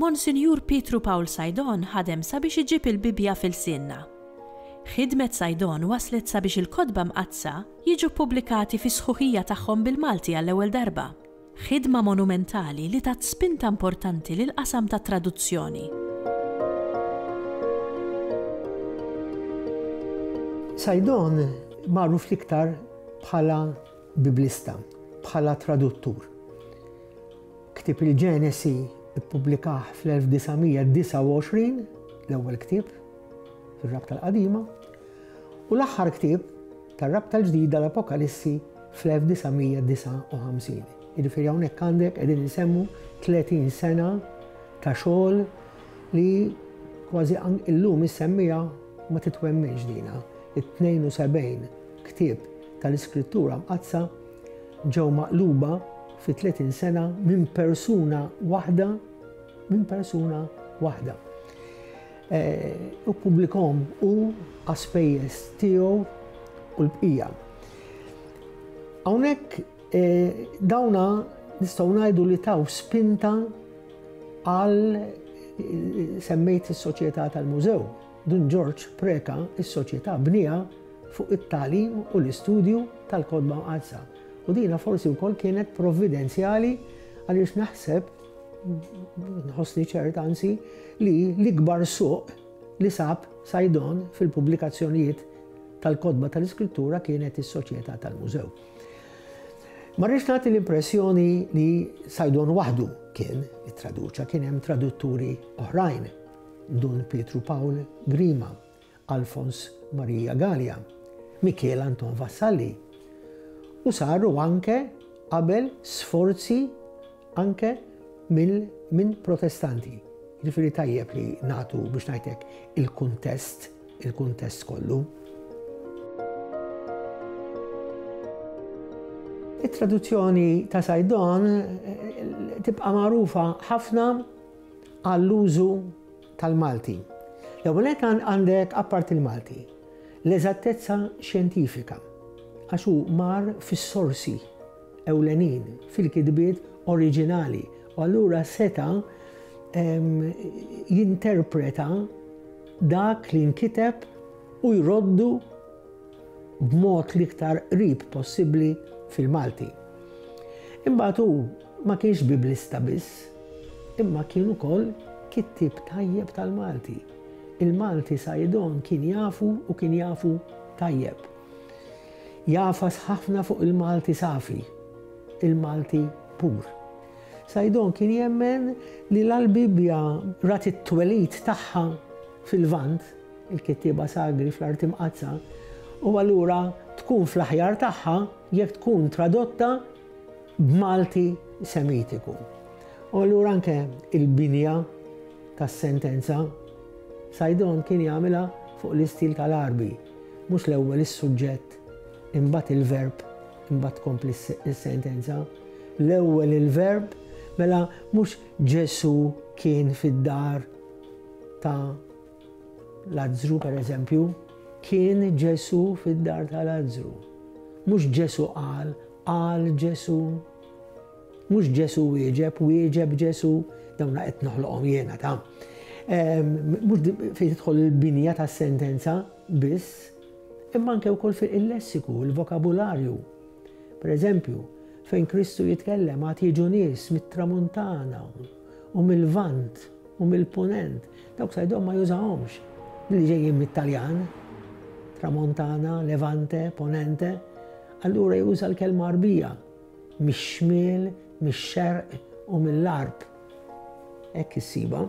Monsinjur Pietru Pawl Saidon ħadem sabiex iġib il-Bibbja f'ilsienna. Ħidmet Saidon wasslet sabiex il-Kotba Mqaddsa jiġu ppubblikati fis-sħuħija tagħhom bil-Malti għall-ewwel darba, ħidma monumentali li tat spinta importanti lill-qasam tat-traduzzjoni. Saidon magħruf l-iktar bħala Bibblista, bħala traduttur. Ktieb il-Ġenesi ppubblikah fl-1929, l-ewwel ktieb fir-Rabta l-Qadima, u l-aħħar ktieb tar-Rabta l-Ġdida l-Apokalissi fl-1959. Jiġifieri hawnhekk għandek qegħdin insemmu 30 sena ta' xogħol li kważi illum issemmija ma titwemmiex dina. It-72 ktieb tal-iskrittura mqaddsa ġew maqluba fi 30 sena minn persuna waħda minn persuna waħda. Eh, u publikom u għaspejjes tiegħu u l-bqija. Hawnhekk eh, dawna nistgħu ngħidu li taw spinta għal eh, semmejt is-soċjetà tal-mużew Dun Ġorġ Preca s-Soċjetà bnieha fuq it-tagħlim u l-istudju tal-Kotba Mqaddsa u dina forsi wkoll kienet provvidenzjali għaliex naħseb nħossni ċert anzi li l-ikbar suq li sab Sajdon fil-pubblikazzjonijiet tal-kotba tal-iskrittura kienet is-Soċjetà tal-Mużew. Ma rridx nagħti l-impressjoni li Sajdon waħdu kien it-traduċa, kien hemm tradutturi oħrajn Dun Pietru Pawl Grima, Alfons Marija Galea, Mikiel Anton Vassalli u saru anke qabel sforzi anke mill minn protestanti. Jiġifieri tajjeb li nagħtu biex ngħidlek il-kuntest, il-kuntest kollu. It-traduzzjoni ta' Sajdon eh, tibqa' magħrufa ħafna għall-użu tal-Malti. L-ewwel nett għandek apparti l-Malti, l-eżattezza xjentifika għax hu mar fis-sorsi ewlenin, fil-kitbiet oriġinali u allura seta' jinterpreta dak li nkiteb u jroddu b'mod l-iktar qrib possibbli fil-Malti. Imbagħad hu Ma kienx Biblista biss, imma kien ukoll kittieb tajjeb tal-Malti. Il-Malti Saidon kien jafu u kien jafu tajjeb. Jagħfas ħafna fuq il-Malti safi, il-Malti pur. Saidon kien jemmen li la l-Bibbja rat it-twelid tagħha fil-Lvant, il-kittieba sagri fl-Arti Mqaddsa, u allura tkun fl-aħjar tagħha jekk tkun tradotta b'Malti Semitiku. U allura anke il-binja tas-sentenza Sajdon kien jagħmilha fuq l-istil tal-Għarbi, mhux l-ewwel is-suġġett, imbagħad il-verb, imbagħad tkompli s-sentenza. L-ewwel il-verb, mela mhux Ġesu kien fid-dar ta' Lazzru, per eżempju, kien Ġesù fid-dar ta' Lazzru. Mhux Ġesù qal, qal Ġesù. Mhux Ġesù wieġeb, wieġeb Ġesù. Dawna qed noħloqhom jiena ta'. Mhux fejn tidħol il-binja tas-sentenza biss, imma anke wkoll fi il-lessiku, il-vokabularju. Per eżempju, fejn Kristu jitkellem għad jiġu nies mit-tramuntana, u mil-Lvant u mill-Punent, dawk sajdhom ma jużahomx billi ġejjin mit-Taljan, Tramontana, Levante, Ponente, allura juża l-kelma Għarbija, mix-Xmiel, mix-Xerq u mill-Għarb. Hekk issibha.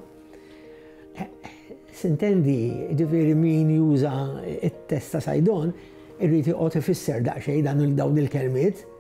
Sintendi, ġifieri min juża t-test ta' Sajdon irrid joqgħod ifisser daqsxejn dan dawn il-kelmiet.